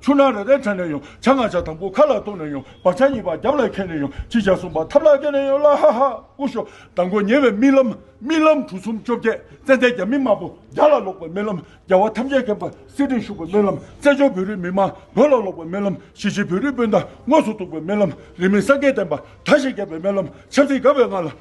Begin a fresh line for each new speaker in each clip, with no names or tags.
ཆུ་ནག་རེ་རེ་དྲན་ནས་ཡོང་བྱ་ང་བྱ་དང་པོ་ཁ་ལ་གཏོང་ནས་ཡོང་བག་ཆགས་གཉིས་པ་རྒྱབ་ལ་འཁེན་ནས་ཡོང་ཅི་བྱ་གསུངས་པ་ཐབས་ལ་བཀལ་ནས་ཡོང་ལ་ཧ་ཧ་ཀུ་ཤོ་དང་པོ་ཉེ་བའི་རྨི་ལམ་རྨི་ལམ་གྲུ་གསུམ་བཅོ་བརྒྱད་ཙན་དན་རྒྱ་མི་དམར་པོ་རྒྱ་ལ་ལོག་པའི་རྨི་ལམ་རྒྱལ་བ་ཐམས་ཅད་མཁྱེན་པ་སྲིད་སྟེང་བཞུགས་པའི་རྨི་ལམ་བཙན་བྱོལ་བོད་རིགས་མི་དམངས་བོད་ལ་ལོག་པའི་རྨི་ལམ་གཞིས་བྱེས་བོད་རིགས་སྤུན་ཟླ་དངོས་སུ་གཏུགས་པའི་རྨི་ལམ་རིས་མེད་སངས་རྒྱས་བསྟན་པ་མཐའ་བཞིན་རྒྱས་པའི་རྨི་ལམ་ཆབ་སྲིད་དགའ་བའི་ངང་ལ་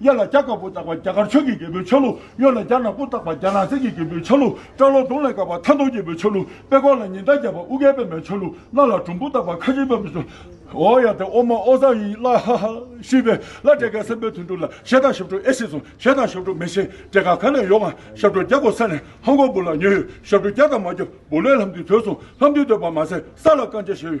གཡས་ལ་སྐྱ་དཀར་པོ་བཏགས་པ་སྐྱ་དཀར་ཆོས་ཀྱི་རྒྱལ་པོའི་ཆ་ལུགས། གཡོན་ལ་སྐྱ་ནག་པོ་བཏགས་པ་སྐྱ་ནག་གསེར་གྱི་རྒྱལ་པོའི་ཆ་ལུགས། སྐྲ་ལོ་དུང་ལས་དཀར་བ་ཐ་མདོག་རྒྱལ་པོའི་ཆ་ལུགས། པད་ཀོག་ལ་ཉི་ཟླ་རྒྱས་པ་ཨུ་རྒྱལ་པདྨའི་ཆ་ལུགས། སྣ་ལ་དྲུང་བུ་བཏགས་པ་ཁ་ཆེའི་པདྨའི་ཆ་ལུགས། ཨོ་ཡ་དེ་ཨོ་མ་ཨོ་བཟང་ཡིན་ལ་ཧ་ཧ། ཤི་བའི་ལ་བྲེ་ག་སེམས་པའི་དུད་འགྲོ་ལ་ཞེ་ད་ཞབས་བྲོ་ཨེ་ཤེས་སོ་ཞེ་ད་ཞབས་བྲོ་མི་ཤེས་བྲེ་ག་ག་ནས་ཡོང་ང་ཞབས་བྲོ་རྒྱག་དགོས་ས་ནས་ཧོང་ཀོང་བུ་ལ་ཉོས་ཡོད་ཞབས་བྲོ་རྒྱག་དང་མ་རྒྱག་བུ་ལས་ལྷམ་འདི་ཐོས་སོང་ལྷམ་འདི་ཐོས་པ་མ་ཟད་ས་ལ་རྐང་བཅད་བྱས་ཡོད།